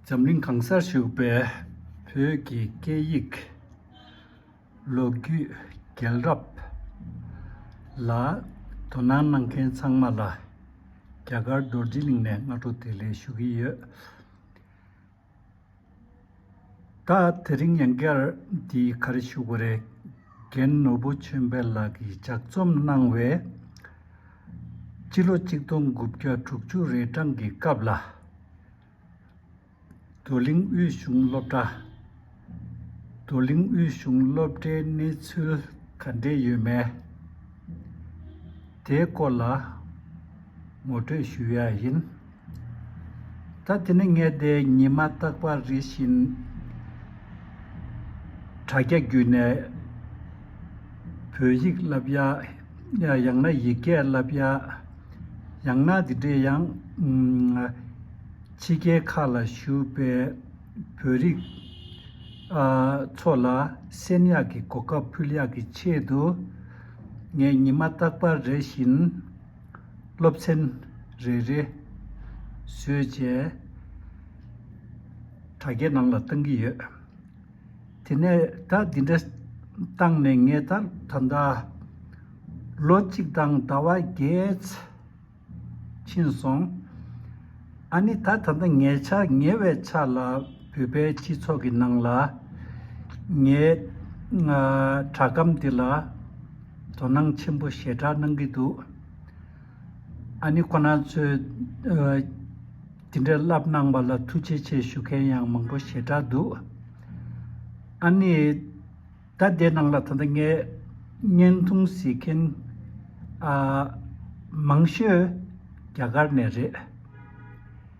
འཛམ་གླིང་གང་སར་བཞུགས་པའི་བོད་ཀྱི་སྐད་ཡིག་ལོ་རྒྱུས་རྒྱལ་རབས་ལ་དོ་སྣང་གནང་མཁན་ཚང་མ་ལ་རྒྱ་གར་རྡོར་རྗེ་གླིང་ནས་སྔ་དྲོ་དེ་ལས་ཞུ་གི་ཡོད། ད་དེ་རིང་ཡང་སྐལ་འདིའི་གར་ཞུ་གོ་རེ་རྒན་ནོར་བུ་ཆོས་འཕེལ་ལགས་ཀྱིས་ལྗགས་རྩོམ་གནང་བའི། སྤྱི་ལོ་གཅིག་སྟོང་དགུ་བརྒྱ་དྲུག་ཅུ་རེ་གྲངས་ཀྱི་སྐབས་ལ། རྡོར་གླིང་དབུས་གཞུང་སློབ་གྲྭ། རྡོར་གླིང་དབུས་གཞུང་སློབ་གྲྭའི་གནས་ཚུལ་ག་འདྲས་ཡོད་མེད། དེའི་སྐོར་ལ་ངོ་སྤྲོད་ཞུ་ཡ་ཡིན། ད་དེ་ནི་ངས་དེ་ཉིད་མ་བརྟགས་པར་རེ་ཞིག་དྲ་རྒྱ་བརྒྱུད་ནས་བོད་ཡིག་བསླབ་ཡ། ཡང་ན་ཡིག་སྐད་བསླབ་ཡ། ཡང་ན་དེ་འདྲའི་ཡང། ཕྱི་རྒྱལ་ཁག་ལ་བཞུགས་པའི་བོད་རིགས་ཚོ་ལ་བསན་ཡག་གི་གོ་སྐབས་ཕུལ་ཡག་གི་ཆེད་དུ། ངས་ཉི་མ་བརྟགས་པར་རེ་བཞིན། སློབ་ཚན་རེ་རེ་བཟོས་རྗེས་དྲ་རྒྱའི་ནང་ལ་བཏང་གི་ཡོད། དེ་ནས་ད་འདི་འདྲ་བཏང་ནས་ངས་ད་ད་ལྟ་ལོ་གཅིག་དང་ཟླ་བ་བརྒྱད་ཕྱིན་སོང། ཨ་ནི་ད་ད་ལྟ་ངའི་ཆ་ཉེ་བའི་ཆ་ལ་བོད་པའི་སྤྱི་ཚོགས་ཀྱི་ནང་ལ་ངའི་དྲ་སྒམ་འདི་ལ། དོ་སྣང་ཆེན་པོ་ཞེ་དྲག་གནང་གི་འདུག་ཨ་ནི་ཁོ་ན་ཚོས་དེ་འདྲའི་བསླབ་གནང་བ་ལ་ཐུགས་རྗེ་ཆེ་ཞུ་མཁན་ཡང་མང་པོ་ཞེ་དྲག་འདུག་ཨ་ནི་ད་ལྟའི་ནང་ལ་ད་ལྟ་ངས་བརྙན་ཐུང་གཟིགས་མཁན་མང་ཤོས་རྒྱ་གར་ནས་རེད།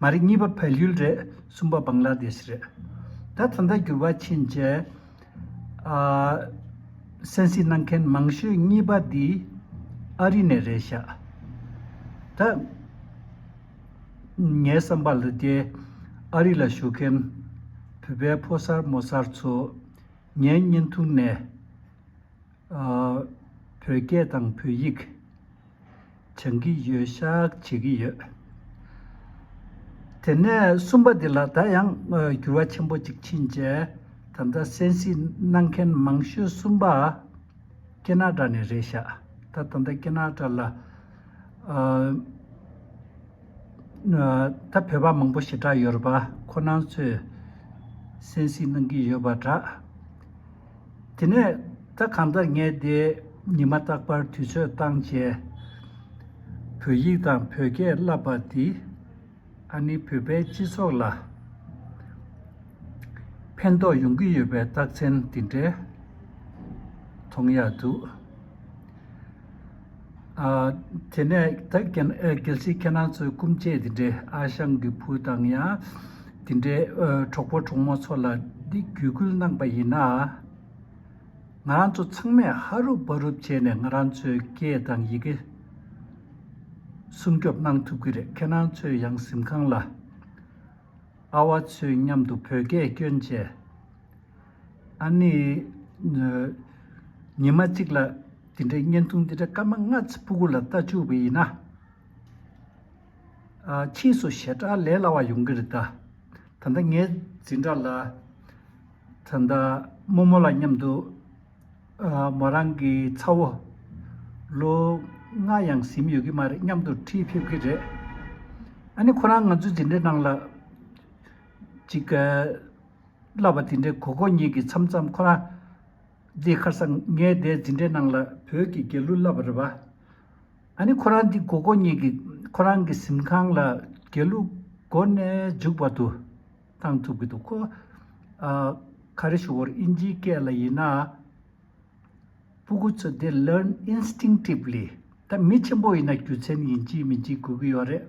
མ་རེད་གཉིས་པ་བལ་ཡུལ་རེད་གསུམ་པ་བང་ལ་དེ་ཤི་རེད། ད་ད་ལྟ་འགྱུར་བ་ཕྱིན་རྗེས། སན་སི་གནང་མཁན་མང་ཤོས་གཉིས་པ་འདི་ཨ་རི་ནས་རེད་ཤག་ད། ངའི་བསམ་པ་ལ་དེ་ཨ་རི་ལ་བཞུགས་མཁན་བོད་པའི་ཕོ་གསར་མོ་གསར་ཚོ་ངའི་བརྙན་ཐུང་ནས། བོད་སྐད་དང་བོད་ཡིག་སྦྱང་གི་ཡོད་བཤགས་བྱེད་ཀྱི་ཡོད། དེ་ནས་གསུམ་པ་འདི་ལ་ད་ཡང་འགྱུར་བ་ཆེན་པོ་གཅིག་ཕྱིན་རྗེས་ད་ལྟ་གསན་གཟིགས་གནང་མཁན་མང་ཤོས་གསུམ་པ་ཀེ་ན་ཀྲ་ནས་རེད་བཤགས་ད་ད་ལྟ་ཀེ་ན་ཀྲ་ལ་ད་བོད་པ་མང་པོ་ཞེ་དྲག་ཡོད་རེད་པ་ཁོ་ནང་ཚོས་གསན་གཟིགས་གནང་གི་ཡོད་པ་འདྲ། དེ་ནས་ད་གམ་ད་ངས་དེ་ཉིན་མ་རྟག་པར་དུས་ཚོད་བཏང་བྱས། བོད་ཡིག་དང་བོད་སྐད་བསླབས་པ་འདིས་ཨ་ནི་བོད་པའི་སྤྱི་ཚོགས་ལ་ཕན་ཐོགས་ཡོང་གི་ཡོད་པའི་རྟགས་མཚན་འདི་འདྲའི་མཐོང་ཡག་འདུག། དེ་ནས་གལ་སྲིད་ཁྱེད་རང་ཚོའི་སྐུ་མཆེད་དེ་འདྲའི་ཨ་ཞང་གི་བུ་དང་ཡང་དེ་འདྲའི་གྲོགས་པོ་གྲོགས་མོ་ཚོ་ལ་འདི་བརྒྱུད་སྐུལ་གནང་པ་ཡིན་ན། ང་རང་ཚོ་ཚང་མས་ཧ་རུབ་ཧྥ་རུབ་བྱས་ནས་ང་རང་ཚོའི་སྐད་དང་ཡི་གེ་སྲུང་སྐྱོབ་གནང་ཐུབ་ཀྱི་རེད་ཁྱེད་རང་ཚོས་ཡང་གཟིམ་ཁང་ལ་ཨ་བ་ཚོས་མཉམ་དུ་བོད་སྐད་བསྐྱོན་བྱས། ཨ་ནི། ཉི་མ་གཅིག་ལ་དེ་འདྲའི་བརྙན་ཐུང་འདི་འདྲ་སྐར་མ་ལྔ་ཚེ་ཕུ་གུ་ལ་བལྟ་བཅུག་པ་ཡིན་ན། ཕྱིས་སུ་ཞེ་དྲག་ལས་སླ་བ་ཡོང་གི་རེད་ད། ད་ལྟ་ངའི་འཛིན་གྲྭ་ལ། ད་ལྟ་རྨོ་མོ་ལ་མཉམ་དུ། མོ་རང་གི་ཚ་བོ། ལོ་ལྔ་ཡང་ཟིན་ཡོད་ཀྱི་མ་རེད་མཉམ་དུ་འཁྲིད་ཕེབས་ཀྱི་རེད། ཨ་ནི་ཁོ་རང་ང་ཚོའི་འཛིན་གྲྭའི་ནང་ལ། ཅིག། བསླབ་པ་དེ་འདྲའི་གོ་གོ་གཉིས་ཀྱི་མཚམས་མཚམས་ཁོ་ན། འདི་ཁར་སང་ངས་དེ་འཛིན་གྲྭའི་ནང་ལ་བོད་ཀྱི་རྒྱལ་གླུ་བསླབ་པ་རེད་པ། ཨ་ནི་ཁོ་རང་འདི་གོ་གོ་གཉིས་ཀྱི་ཁོ་རང་གི་གཟིམ་ཁང་ལ་རྒྱལ་གླུ་མགོ་ནས་མཇུག་བར་དུ་བཏང་ཐུབ་ཀྱི་འདུག་གོ། ཨ། ག་རེ་ཞུ་བོར་ཨིན་ཇིའི་སྐད་ལ་ཡིན་ན། སྤུ་གུ་ཚོ་འདི learn instinctively ད་མི་ཆེན་པོ་ཡིན་ན་རྒྱུ་མཚན་ཡིན་གཅིག་མིན་གཅིག་གོ་གི་ཡོད་རེད།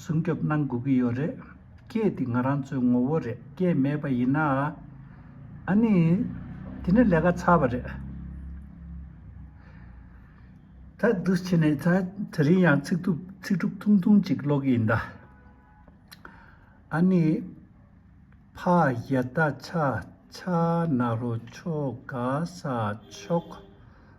སྲུང་སྐྱོབ་གནང་དགོས་ཀྱི་ཡོད་རེད། སྐད་དེ་ང་རང་ཚོའི་ངོ་བོ་རེད་སྐད་མེད་པ་ཡིན་ན། ཨ་ནི། དེ་ནི་ལས་ཀ་ཚར་བ་རེད། ད་བསྡུ་བྱས་ནས་ད་རིང་ཡང་ཚིག་ཐུབ་ཚིག་གྲུབ་ཐུང་ཐུང་གཅིག་ཀློག་གི་ཡིན་ད། ཨ་ནི། ཕ་གཡས་རྟ་ཆག་ཆག་ནག་རོ་ཆོ་ག་ས་ཆོག།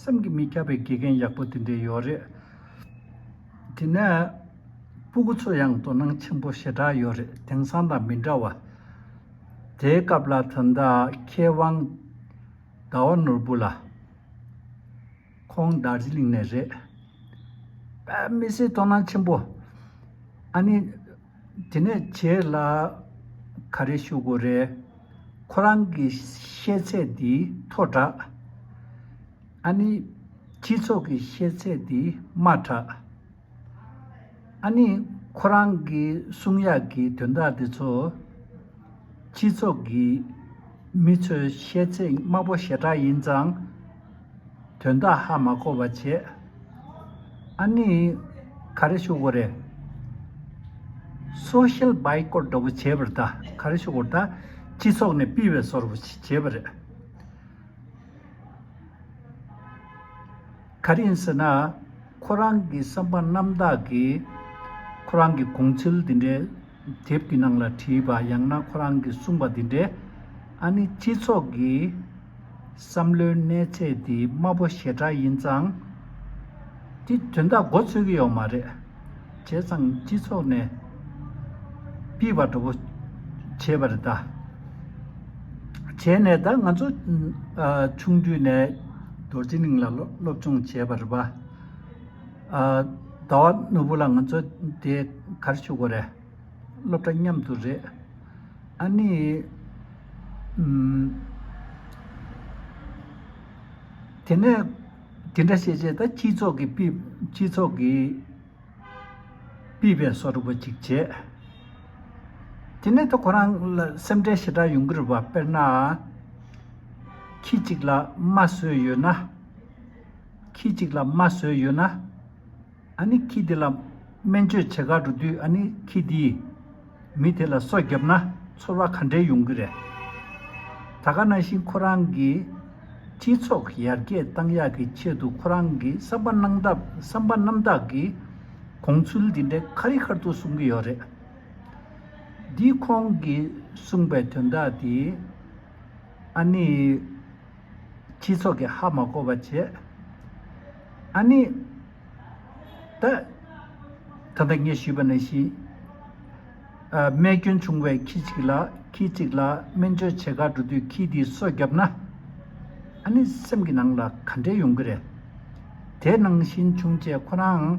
སེམས་ཀྱི་མི་ཁྱབ་པའི་དགེ་རྒན་ཡག་པོ་དེ་འདྲའི་ཡོད་རེད། དེ་ནས། སྤུ་གུ་ཚོ་ཡང་དོ་སྣང་ཆེན་པོ་ཞེ་དྲག་ཡོད་རེད་དེང་སང་དང་མི་འདྲ་བ། དེའི་སྐབས་ལ་ད་ལྟ་མཁས་དབང། ཟླ་བ་ནོར་བུ་ལགས། ཁོང་རྡ་རྗི་ལིང་ནས་རེད། དཔེ་མི་སྲིད་དོ་སྣང་ཆེན་པོ། ཨ་ནི། དེ་ནས་ཁྱེད་ལ་ག་རེ་ཞུ་དགོས་རེད། ཁོ་རང་གི་ཤེས་ཚད་འདི་མཐོ་དྲགས། ཨ་ནི། སྤྱི་ཚོགས་ཀྱི་ཤེས་ཚད་འདི་དམའ་དྲགས། ཨ་ནི། ཁོ་རང་གི་གསུང་ཡག་གི་དོན་དག་འདི་ཚོ། སྤྱི་ཚོགས་ཀྱི་མི་ཚོའི་ཤེས་ཚད་དམའ་པོ་ཞེ་དྲགས་ཡིན་ཙང། དོན་དག་ཧ་མ་གོ་བ་བྱས། ཨ་ནི། ག་རེ་ཞུ་དགོ་རེད། Social Boycott འདྲ་བོ་བྱས་པར་ད་ག་རེ་ཞུ་དགོ་རེད། སྤྱི་ཚོགས་ནས་སྤི་བས་ཟོར་བོ་བྱས་པ་རེད། ག་རེ་ཡིན་ཟེར་ན། ཁོ་རང་གི་བསམ་པ་རྣམ་དག་གིས། ཁོ་རང་གི་དགོངས་ཚུལ་འདི་འདྲའི། དེབ་ཀྱི་ནང་ལ་བྲིས་པ་ཡང་ན་ཁོ་རང་གིས་གསུངས་པ་འདི་འདྲས། ཨ་ནི་སྤྱི་ཚོགས་ཀྱི་བསམ་བློའི་གནས་ཚད་འདི་དམའ་པོ་ཞེ་དྲག་ཡིན་ཙང། དེ་དོན་དག་མགོ་ཚོས་ཀྱི་ཡོད་མ་རེད། བྱས་ཙང་སྤྱི་ཚོགས་ནས་སྤིས་པ་འགྲོ་པོ་བྱས་པ་རེད་ད། བྱས་ནས་ད་ང་ཚོ་ཆུང་དུས་ནས་རྡོར་དབྱི་གླིང་ལ་སློབ་སྦྱོང་བྱས་པ་རེད་པ། ཟླ་བ་ནོར་བུ་ལ་ང་ཚོ་དེ་གར་བཞུགས་གོ་རེད། སློབ་གྲྭ་མཉམ་དུ་རེད། ཨ་ནི། དེ་ནས་དེ་འདྲ་བྱས་བྱས་ད་སྤྱི་ཚོགས་ཀྱི་པི་སྤྱི་ཚོགས་ཀྱི་པི་བའི་སོ་རུབ་པ་ཅིག་བྱས། དེ་ནས་ད་ཁོ་རང་ལ་སེམས་ཁྲལ་ཞེ་དྲག་ཡོང་གི་རེད་བ་དཔེར་ན། ཁྱི་གཅིག་ལ་རྨ་སྲོལ་ཡོད་ན། ཁྱི་གཅིག་ལ་རྨ་ཟོས་ཡོད་ན། ཨ་ནི་ཁྱི་དེ་ལ་སྨན་བཅོས་བྱེད་ག་འགྲོ་དུས་ཨ་ནི་ཁྱི་དེས་མི་དེ་ལ་སོ་བརྒྱབ་ན་ཚོར་བ་ག་འདྲའི་ཡོང་གི་རེད། ད་ག་ན་བཞིན་ཁོ་རང་གིས་སྤྱི་ཚོགས་ཡར་རྒྱས་གཏང་ཡག་གི་ཆེད་དུ་ཁོ་རང་གི་བསམ་པ་གནང་སྟབས་བསམ་པ་རྣམ་དག་གིས་གོང་ཚུལ་འདི་འདྲའི་ཁ་རི་ཁར་དུ་གསུང་གི་ཡོད་རེད། འདིས་ཁོང་གིས་གསུངས་པའི་དོན་དག་དེ་ཨ་ནི། སྤྱི་ཚོགས་ཀྱི་ཧ་མ་གོ་བ་བྱེད། ཨཱ་ནི། ད། ད་ལྟ་ངས་ཞུས་པ་ནས་བཞིན། རྨས་སྐྱོན་བྱུང་བའི་ཁྱི་གཅིག་ལ་ཁྱི་གཅིག་ལ་སྨན་བཅོས་བྱེད་ཁར་འགྲོ་དུས་ཁྱི་དེའི་སོ་བརྒྱབ་ན། ཨཱ་ནི་སེམས་ཀྱི་ནང་ལ་ག་འདྲའི་ཡོང་གི་རེད། དེ་ནང་བཞིན་བྱུང་རྗེས་ཁོ་རང།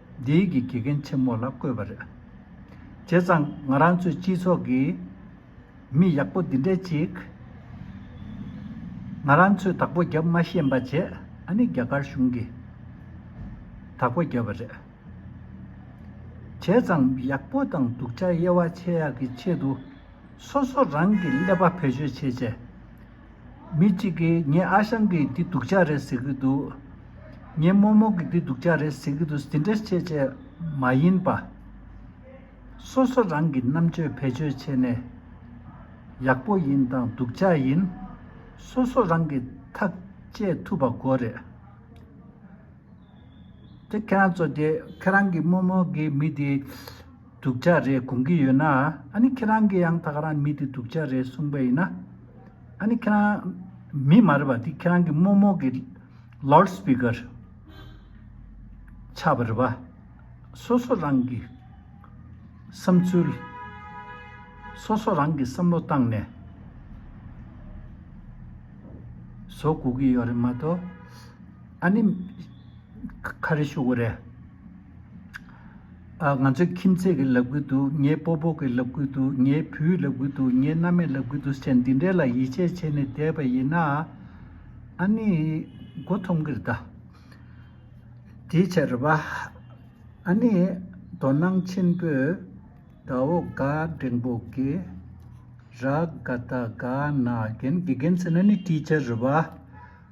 རྒྱ་ཡིག་གི་དགེ་རྒན་ཆེན་མོ་ལ་བསྐོས་པ་རེད། བྱས་ཙང་ང་རང་ཚོའི་སྤྱི་ཚོགས་ཀྱི་མི་ཡག་པོ་འདི་འདྲས་ཅིག་ང་རང་ཚོས་དག་པོ་བརྒྱབ་མ་ཤེས་འབའ་བྱས་ཨ་ནི་རྒྱ་གར་གཞུང་གིས་དག་པོ་བརྒྱབ་པ་རེད། བྱས་ཙང་མི་ཡག་པོ་དང་སྡུག་ཆ་དབྱེ་བ་ཕྱེ་ཡག་གི་ཆེད་དུ་སོ་སོ་རང་གི་ཀླད་པ་བེད་སྤྱོད་བྱེད་ཆེད། མི་གཅིག་གིས་ངས་ཨ་ཞང་གིས་འདི་སྡུག་ཅག་རེད་ཟེར་གྱི་འདུག། ངས་རྨོ་རྨོ་གིས་འདི་སྡུག་ཅག་རེད་ཟེར་གྱི་འདུག་ཟེར་འདྲེ་བྱེད་བཅས་མ་ཡིན་པ། སོ་སོ་རང་གི་རྣམ་དཔྱོད་བེད་སྤྱོད་བྱས་ནས། ཡག་པོ་ཡིན་དང་སྡུག་ཅག་ཡིན། སོ་སོ་རང་གིས་ཐག་བཅད་ཐུབ་པ་དགོས་རེད། དེ་ཁྱེད་རང་ཚོ་དེ་ཁྱེད་རང་གིས་རྨོ་རྨོ་གིས་མི་དེ། སྡུག་ཅག་རེད་དགོངས་ཀྱི་ཡོད་ན། ཨ་ནི་ཁྱེད་རང་གི་ཡང་དག་རང་མི་དེ་སྡུག་ཅག་རེད་གསུངས་པ་ཡིན་ན། ཨ་ནི་ཁྱེད་རང། མི་མ་རེད་པ་དེ་ཁྱེད་རང་གི་རྨོ་རྨོ་གི། Loud Speaker། ཆགས་པ་རེད་པ། སོ་སོ་རང་གི། བསམ་ཚུལ། སོ་སོ་རང་གི་བསམ་བློ་བཏང་ནས། བཟོ་དགོས་ཀྱི་ཡོད་རེད་མ་གཏོགས། ཨ་ནི། ཁ་རེ་ཤོར་གི་རེད། ང་ཚོའི་ཁྱིམ་མཚེས་ཀྱི་ལབ་ཀི་འདུག་ངའི་སྤོ་སྤོ་གི་ལབ་ཀི་འདུག་ངའི་བུའི་ལབ་ཀི་འདུག་ངའི་མནའ་མས་ལབ་ཀི་འདུག་ཟེར་བྱས་འདི་འདྲའི་ལ་ཡིད་ཆེས་བྱས་ནས་བསྡད་པ་ཡིན་ན། ཨ་ནི། མགོ་འཐོམ་གི་རེད་ད། དེའི་ཕྱིར་རེད་པ། ཨ་ནི། དོ་སྣང་ཆེན་པོས། ད་འོ་དགའ་འབྲེང་པོ་གི། ར་དགའ་ད་དགའ་ན་རྒན་གི་རྒན་ཟེར་ན་ནི་དེའི་ཕྱིར་རེད་པ།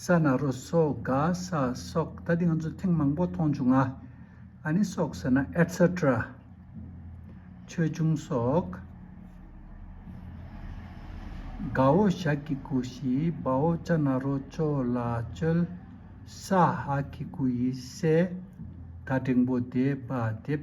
ས་ནག་རོ་སོགས་ག་ས་སོགས་ད་ལྟ་ང་ཚོ་ཐེངས་མང་པོ་མཐོང་བྱུང་ང་ཨ་ནི་སོགས་ཟེར་ན Etcetera ཆོས་འབྱུང་སོགས་དགའ་བོ་ཞག་གི་གུ་ཞི་སྦ་བོ་ལྕ་ནག་རོ་ཅོ་ལ་ཅོལ་ས་ཧག་གི་གུ་ཡི་སྲས་དགའ་འབྲིང་པོ་དེ་སྦ་དེབ་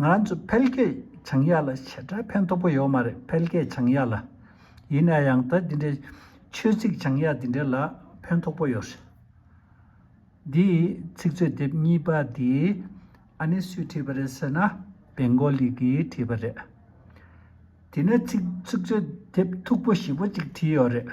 ང་ཚོ་འཕེལ་རྒྱས་བྱང་ཡག་ལ་བྱེ་བྲག་ཕན་ཐོགས་པོ་ཡོད་མ་རེད་འཕེལ་རྒྱས་བྱང་ཡག་ལ། ཡིན་ན་ཡང་ད་འདི་འདྲའི་ཆོས་ཚིག་བྱང་ཡག་འདི་འདྲའི་ལ་ཕན་ཐོགས་པོ་ཡོད་རེད། འདི་ཚིག་མཛོད་དེབ་གཉིས་པ་འདི་ཨ་ནེ་སུས་བྲིས་པ་རེད་ཟེར་ན་བེང་གོ་ལི་གིས་བྲིས་པ་རེད། དེ་ནས་ཚིག་མཛོད་དེབ་མཐུག་པོ་བཞི་པོ་གཅིག་བྲིས་ཡོད་རེད།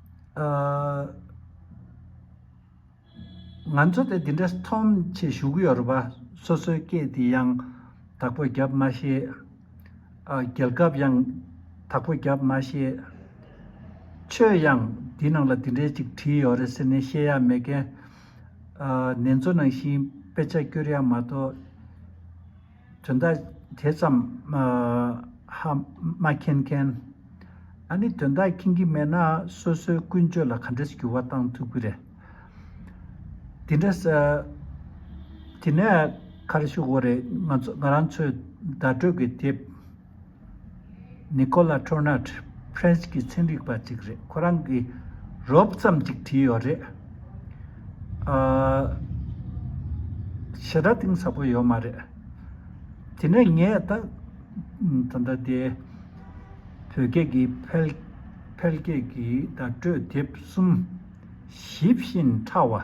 ང་ཚོ་དེ་འདི་འདྲ་མཐོང་ཆེད་བཞུགས་ཀྱི་ཡོད་རེད་པ། སོ་སོའི་སྐད་དེ་ཡང་དག་པོ་རྒྱབ་མ་ཤེས། རྒྱལ་ཁབ་ཡང་དག་པོ་རྒྱབ་མ་ཤེས། ཆོས་ཡང་དེའི་ནང་ལ་དེ་འདྲའི་ཅིག་བྲིས་ཡོད་རེད་ཟེར་ནས་བཤད་ཡ་མེད་ཀན། ནེ་ཙོ་ནང་བཞིན་དཔེ་ཆ་བསྐྱུར་ཡ་མ་གཏོགས། དོན་དག་དེ་ཙམ་ཧ་མ་མཁྱེན་མཁན། ཨ་ནི་དོན་དག་མཁྱེན་གྱི་མེད་ན་སོ་སོའི་ཀུན་སྤྱོད་ལ་ག་འདྲས་འགྱུར་བ་བཏང་ཐུབ་ཀྱི་རེད། དེ་འདྲ་ཟེར། དེ་ནས་ཁ་རེ་ཤོག་འོ་རེད་ང་རང་ཚོས་བརྡ་སྤྲོད་ཀྱི་དེབ། Nicola Tornat French གི་ཚན་རིག་པ་ཅིག་རེད་ཁོ་རང་གིས་རོབ་ཙམ་ཅིག་བྲིས་ཡོད་རེད། ཞེ་དྲག་གཏིང་ཟབ་པོ་ཡོད་མ་རེད། དེ་ནས་ངས་ད་ད་ལྟ་དེ་བོད་སྐད་ཀྱི་ཕལ་ཕལ་སྐད་ཀྱི་བརྡ་སྤྲོད་དེབ་གསུམ་ཞིབ་བཞིན་ཕྲ་བ།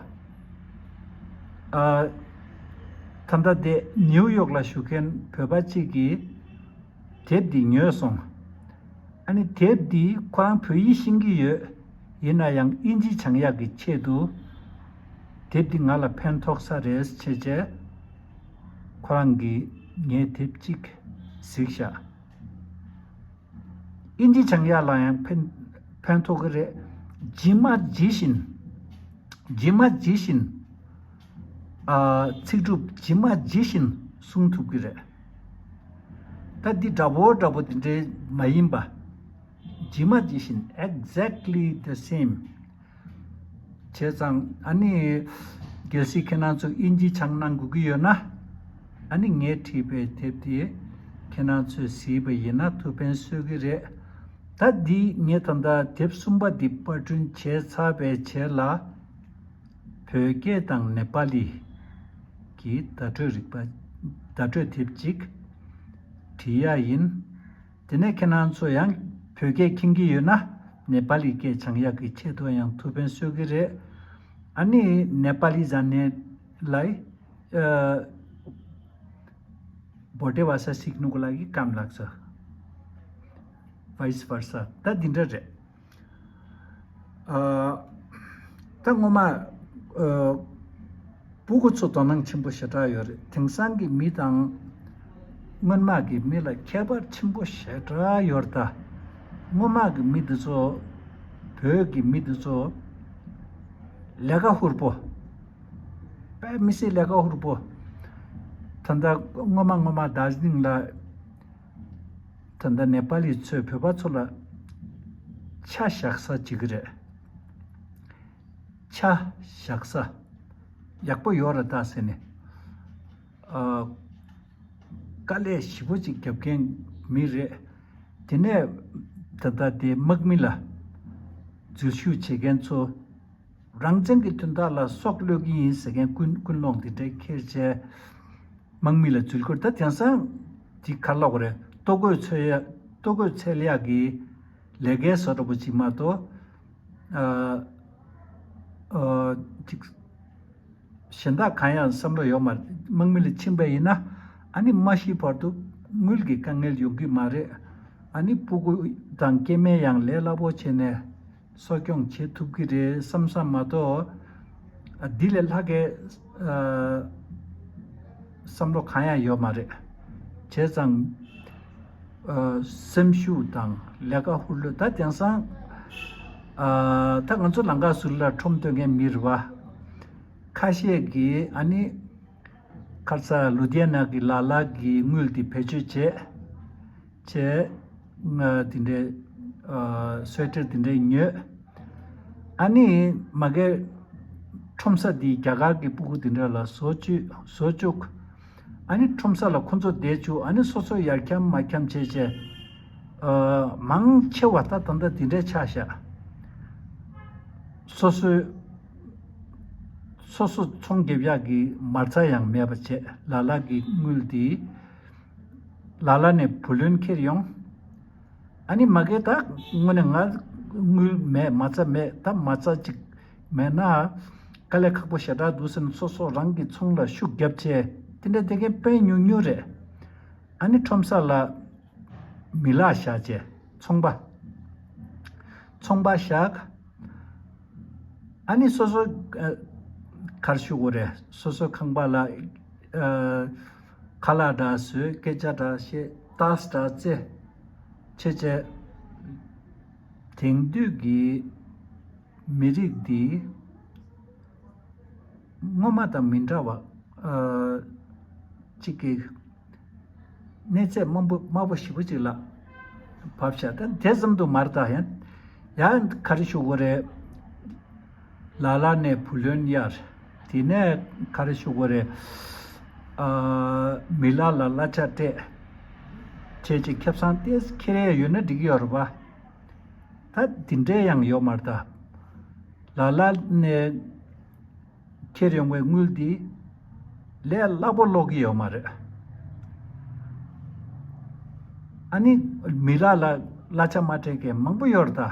ད་ལྟ་དེ་ནིའུ་ཡོག་ལ་བཞུགས་མཁན་བོད་པ་ཅིག་གིས། དེབ་འདི་ཉོས་སོང། ཨ་ནི་དེབ་འདི་ཁོ་རང་བོད་ཡིག་ཤེས་ཀྱི་ཡོད། ཡིན་ན་ཡང་དབྱིན་ཇི་བྱང་ཡག་གི་ཆེད་དུ། དེབ་འདི་ང་ལ་ཕན་ཐོག་ས་རེད་ཆེ་ཆེ། ཁོ་རང་གིས་ངས་དེབ་གཅིག་གཟིགས་བཞག། དབྱིན་ཇི་བྱང་ཡག་ལ་ཡང་ཕན་ཐོག་གི་རེད། ཇི་མ་ཇི་བཞིན། ཇི་མ་ཇི་བཞིན། ཚིག་གྲུབ་ཇི་མ་ཇི་བཞིན་གསུང་ཐུབ་ཀྱི་རེད། ད་འདི་འདྲ་བོ་འདྲ་བོ་དེ་འདྲའི་མ་ཡིན་པ། ཇི་མ་ཇི་བཞིན Exactly the same། བྱས་ཙང་ཨ་ནི། གལ་སྲིད་ཁྱེད་རང་ཚོས་དབྱིན་ཇི་སྦྱང་གནང་དགོས་ཀྱི་ཡོད་ན། ཨ་ནི་ངས་བྲིས་པའི་དེབ་དེ་ཁྱེད་རང་ཚོས་གཟིགས་པ་ཡིན་ན་ཐུགས་ཕན་གསོས་ཀྱི་རེད། ད་འདི་ངས་ད་ལྟ་དེབ་གསུམ་པ་འདི་པར་སྐྲུན་བྱས་ཚར་བས་བྱས་ལ། བོད་སྐད་དང་ནེ་པ་ལི་གྱི་བརྡ་སྤྲོད་རིག་པ། བརྡ་སྤྲོད་དེབ་གཅིག་བྲིས་ཡ་ཡིན། དེ་ནས་ཁྱེད་རང་ཚོ་ཡང་བོད་སྐད་ཁྱིམ་གྱི་ཡོད་ན་ནེ་པ་ལི་སྐད་བྱང་ཡག་གི་ཆེད་དུ་ཡང་ཐུགས་ཕན་གསོས་གི་རེད། ཨ་ནི་ནེ་པ་ལི་ཟ་ནེ་ལའི་བོ་ཏེ་བ་ས་སིག་ནུ་གོ་ལ་གི་ཀམ་ལགས་སོ། Vice versa། ད་འདི་འདྲ་རེད། ད་སྔོན་མ། སྤུ་གུ་ཚོ་དོ་སྣང་ཆེན་པོ་ཞེ་དྲག་ཡོད་རེད་དེང་སང་གི་མི་དང། སྔོན་མ་གི་མི་ལ་ཁྱད་པར་ཆེན་པོ་ཞེ་དྲག་ཡོད་རེད་ད། སྔོན་མ་གི་མི་འདི་ཚོ། བོད་གི་མི་འདི་ཚོ། ལས་ཀ་ཧུར་པོ། དཔལ་མི་སེར་ལས་ཀ་ཧུར་པོ། ད་ལྟ་སྔོན་མ་སྔོན་མ་ཟླ་བཞིན་ལ། ད་ལྟ་ནེ་པ་ལི་ཚོས་བོད་པ་ཚོ་ལ། ཆ་བཞག་ས་བྱེད་ཀྱི་རེད། ཆ་བཞག་ས། ཡག་པོ་ཡོད་རེད་ད་ཟེར་ནས། དཀའ་ལས་ཞིབ་པོ་ཅིག་རྒྱབ་མཁན་མི་རེད། དེ་ནས་ད་ལྟ་དེ་དམག་མི་ལ། འཛུལ་ཞུགས་བྱེད་མཁན་ཚོ། རང་བཙན་གྱི་དོན་དག་ལ་སྲོག་བློས་ཀྱི་ཡིན་ཟེར་མཁན་ཀུན་ཀུན་སློང་དེ་འདྲའི་ཁེར་ཆད། དམག་མི་ལ་རྫུལ་བསྐོར་ད་དེང་སང་གྱི་ཁ་ལོག་རེད་ལྟོ་གོས་ཚོད་ཡག་ལྟོ་གོས་ཚད་ལ་ཡག་གི། ལས་ཀའི་བཟོ་འདྲ་པོ་གཅིག་མ་གཏོགས། ཨ། ཨོ། ཅིག། གཞན་དག་གང་ཡང་བསམ་བློ་ཡོད་མ་རེད་དམག་མི་ལ་ཕྱིན་པ་ཡིན་ན་ཨ་ནི་མ་ཤི་བར་དུ་དངུལ་གྱི་དཀའ་ངལ་ཡོང་གི་མ་རེད་ཨ་ནི་སྤུ་གུ་དང་སྐྱེས་དམན་ཡང་ལས་སླ་པོ་བྱས་ནས། གསོ་སྐྱོང་བྱེད་ཐུབ་ཀྱི་རེད་བསམ་ས་མ་གཏོགས། འདི་ལས་ལྷག་གི་བསམ་བློ་གང་ཡང་ཡོད་མ་རེད། བྱས་ཙང། སེམས་ཤུགས་དང་ལས་ཀ་ཧུར་ལོས་ད་དེང་སང། ད་ང་ཚོ་ལང་ཀ་ཟུར་ལ་ཁྲོམ་སྟོན་མཁན་མི་རེ་བ། ཁ་ཤས་ཀྱིས་ཨ་ནི། ཁར་ཚ་ལུ་དེ་ནག་གི་ལ་ལ་གི་དངུལ་དེ་བེད་སྤྱོད་བྱེད། བྱས། དེ་འདྲའི་སོལ་ཁྲིར་དེ་འདྲའི་མྱོས། ཨ་ནི་མ་གའི་ཁྲོམ་ས་འདི་རྒྱ་གར་གྱི་སྤུ་གུ་དེ་འདྲ་ལ་བཟོ་བཅུག། ཨ་ནི་ཁྲོམ་ས་ལ་ཁོ་ཚོ་བསྡད་བཅུག་ཨ་ནི་སོ་སོ་ཡར་འཁྱམ་མར་འཁྱམ་བྱས་བྱས། མང་ཆེ་བ་ད་ད་འདི་འདྲའི་ཆགས་ཞག་སོ་སོའི། སོ་སོ་ཚོང་རྒྱབ་ཡག་གི་མར་ཚ་ཡང་མེད་པ་བྱས་ལ་ལ་གི་དངུལ་འདི། ལ་ལ་ནས་བུ་ལོན་འཁྱེར་ཡོང། ཨ་ནི་མ་གལ་ད་དངོས་ནས་ང་དངུལ་མེད་མ་རྩ་མེད་ད་མ་རྩ་ཅིག་མེད་ན། དཀའ་ལས་ཁག་པོ་ཞེ་དྲག་འདུག་སེམས་སོ་སོ་རང་གི་ཚོང་ལ་ཤུགས་རྒྱབ་ཆེ་དེ་འདྲ་དེ་མཁན་དཔེ་ཉུང་ཉུང་རེད། ཨ་ནི་ཁྲོམ་ས་ལ་མི་ལ་བཞག་ཅེས་ཚོང་པ་ཚོང་པ་བཞག། ཨ་ནི་སོ་སོ་གར་ཞུགས་འོ་རེད་སོ་སོ་ཁང་པ་ལ། ཁ་ལག་འདྲ་བཟོས་སྐད་ཆ་འདྲ་བཤད་རྟགས་འདྲ་རྩེ། ཆེ་ཆེ། དེང་དུས་ཀྱི་མི་རིགས་འདི། སྔོན་མ་དང་མི་འདྲ་བ། གཅིག་གི། གནས་ཚད་དམའ་པོ་དམའ་པོ་ཞིབ་པོ་གཅིག་ལ། བབས་ཤག་ད་དེ་ཙམ་དུ་མར་ད། ཡང་ག་རེ་ཞུ་དགོས་རེད། ལ་ལ་ནས་བུ་ལོན་གཡར། དེ་ནས་ག་རེ་ཞུ་དགོས་རེད། ཨ། མི་ལ་ལ་གླ་ཆ་སྤྲད། ཁྱེད་ཀྱི་ཁེབས་སང་ཏེ་སི་ཁེ་རེ་ཡོད་ན་འགྲིག་ཡོད་རེད་པ། ད་དེ་འདྲས་ཡང་ཡོད་མ་རེད། ལ་ལ་ནས་ཁྱེར་ཡོང་བའི་དངུལ་དེ་ལས་སླ་པོ་སློག་གི་ཡོད་མ་རེད། ཨ་ནི་མི་ལ་ལ་གླ་ཆ་མ་སྤྲད་མཁན་མང་པོ་ཡོད་རེད་ད།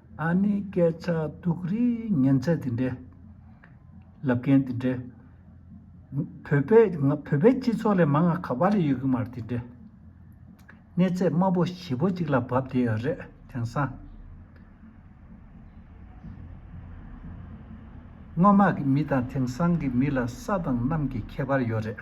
ཨ་ནེའི་སྐད་ཆ་དུག་རིལ་ཉན་ཚད་དེ་འདྲའི་ལབ་མཁན་དེ་འདྲའི། བོད་པའི་བོད་པའི་སྤྱི་ཚོགས་ལས་མ་ང་ག་པ་ལ་ཡོད་གི་མ་རེད་དེ་འདྲའི། གནས་ཚད་དམའ་པོ་བཞི་པོ་གཅིག་ལ་བབས་བསྡད་ཡོད་རེད་དེང་སང། སྔོན་མ་གི་མི་དང་དེང་སང་གི་མི་ལ་ས་དང་གནམ་གྱི་ཁྱད་པར་ཡོད་རེད།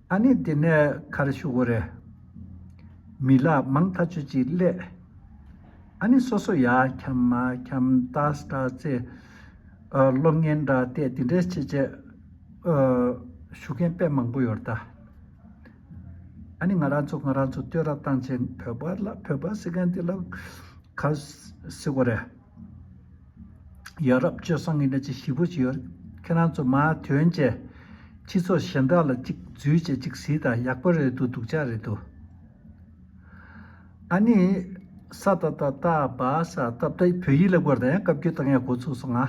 ཨ་ནི་དེ་ནས་ཁ་རེ་ཤུགས་རེ། མི་ལ་མང་ཐ་ཆུ་གཅིག་སླད། ཨ་ནི་སོ་སོ་ཡ་འཁྱམ་མ་འཁྱམ་ཏ་སྟ་ཚེ། གློག་བརྙན་འདྲ་སྟེ་དེ་འདྲའི་ཆེད་ཆེད། ཞུ་མཁན་དཔེ་མང་པོ་ཡོད་ད། ཨ་ནི་ང་རང་ཚོ་ང་རང་ཚོ་ལྟོས་ར་བཏང་ཆེད་བོད་པ་ལ་བོད་པ་ཟེར་མཁན་དེ་ལ་ཁ་ཟེར་གོ་རེ། ཡ་རབས་སྤྱོད་བཟང་གི་གནས་ཚུལ་ཞིབ་པོ་ཞིག་ཡོད། ཁྱེད་རང་ཚོ་མར་དོན་ཅན། ཁྱི་ཚོ་གཞན་དག་ལ་གཅིག་བརྫུས་བྱེད་གཅིག་ཟིག་དང་ཡག་པོ་རེད་འདུག་སྡུག་ཅག་རེད་འདུག། ཨ་ནི། ས་ཏ་ཏ་ཏ་བ་ས་ཏ་པ་ཏའི་བོད་ཡིག་ལེགས་པོར་དང་ཡང་བཀའ་བརྒྱུད་དང་ཡང་འགོ་ཚུགས་སོང་ང།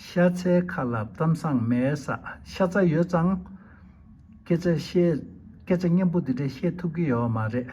ཤ་ཚའི་ཁ་ལ་གཏམ་བཟང་མེད་ས་ཤ་ཚ་ཡོད་ཙང། སྐད་ཆ་བཤད། སྐད་ཆ་སྙན་པོ་འདི་འདྲ་བཤད་ཐུབ་ཀྱི་ཡོད་མ་རེད།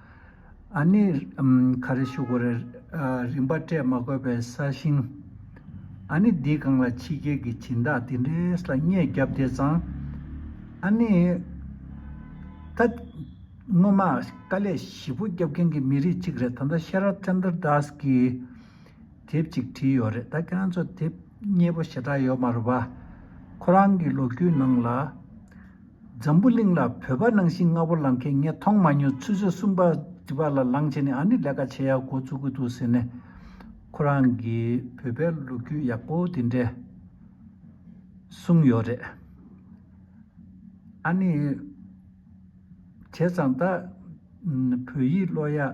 ཨ་ནི། ག་རེ་ཞུ་དགོས་རེད། རིན་པ་སྤྲད་མ་དགོས་པའི་ས་ཞིང། ཨ་ནི་འདི་གང་ལ་ཕྱི་རྒྱལ་གྱི་བྱིན་བདག་དེ་འདྲས་ལ་བརྙས་བརྒྱབ་དེ་བཟང། ཨ་ནི། ད། སྔོན་མ་དཀའ་ལས་ཞིབ་པོ་རྒྱབ་མཁན་གྱི་མི་རིགས་གཅིག་རེད་ད་ལྟ་ཤེ་རབ་ཅནྡར་དཱས་ཀྱི་དེབ་ཅིག་བྲིས་ཡོད་རེད་ད་ཁྱེད་རང་ཚོ་དེབ་རྙེད་པོ་ཞེ་དྲག་ཡོད་མ་རུ་བ། ཁོ་རང་གི་ལོ་རྒྱུས་ནང་ལ། འཛམ་བུ་གླིང་ལ་བོད་པ་ནང་བཞིན་ལྔ་བོ་ལང་མཁན་ངས་མཐོང་མ་མྱོང་ཚུལ་བཟོད་གསུམ་པ་འདི་པ་ལ་ལང་བྱས་ནས་ཨ་ནི་ལས་ཀ་བྱེད་ཡག་གོ་ཚུགས་ཀྱི་འདུག་ཟེར་ནས། ཁོ་རང་གིས་བོད་པའི་ལོ་རྒྱུས་ཡག་པོ་དེ་འདྲས་གསུངས་ཡོད་རེད། ཨ་ནི་བྱས་ཙང་ད་བོད་ཡིག་ཀློག་ཡག།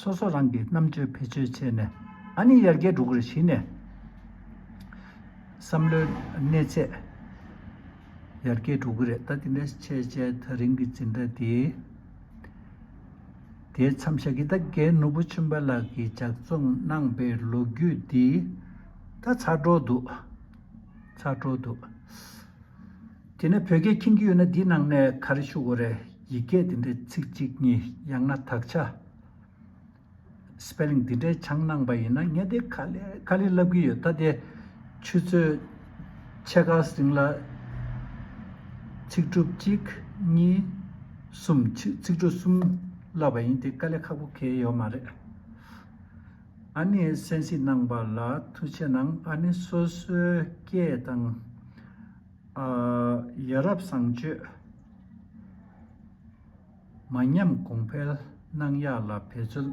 སོ་སོ་རང་གི་རྣམ་དཔྱོད་བེད་སྤྱོད་བྱས་ནས། ཨ་ནི་ཡར་རྒྱས་འགྲོ་དགོས་རེ་བཞིན་ནས། བསམ་བློའི་གནས་ཚད་ཡར་རྒྱས་འགྲོ་གི་རེད་ད་དེ་འདྲའི་ཆེས་ཆེས་ཐག་རིང་གི་འཛིན་གྲྭ་དེ། དེའི་མཚམས་ཤ་ཁི་ད་གའི་ནོར་བུ་ཆུན་པ་ལགས་ཀྱིས་ལྗགས་རྩོམ་གནང་པའི་ལོ་རྒྱུས་འདི། ད་ཚར་འགྲོ་འདུག་ཚར་འགྲོ་འདུག། དེ་ནས་བོད་སྐད་མཁྱེན་གྱི་ཡོད་ན་འདི་ནང་ནས་ག་རེ་ཤོད་དགོས་རེད་ཡིག་སྐད་འདི་འདྲའི་ཚིག་གཅིག་གཉིས་ཡང་ན་དག་ཆ Spelling འདི་འདྲའི་ཆང་གནང་པ་ཡིན་ན་ངས་དེ་ཁ་ལེ་ཁ་ལེ་ལབ་གི་ཡོད་ད་དེ་ཆུ་ཚོད་ཕྱེད་ཀ་ཟིན་ལ་ཚིག་གྲུབ་གཅིག་གཉིས་གསུམ་ཚིག་གྲུབ་གསུམ་བསླབ་པ་ཡིན་དེ་དཀའ་ལས་ཁག་པོ་ཁེལ་ཡོད་མ་རེད་ཨ་ནེ་གསན་གཟིགས་གནང་པ་ལ་ཐུགས་ཆེ་གནང་ཨ་ནེ་སོ་སོའི་སྐད་དང། ཡ་རབས་བཟང་སྤྱོད་མ་ཉམས་གོང་འཕེལ་གནང་ཡག་ལ་བེད་རྩོལ་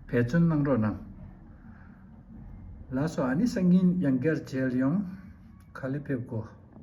བེད་རྩོལ་གནང་རོགས་གནང། ལགས་སོ་ཨ་ནི་སང་ཉིན་ཡང་སྒེར་འཇལ་ཡོང་ག་ལེ་ཕེབས་དགོ།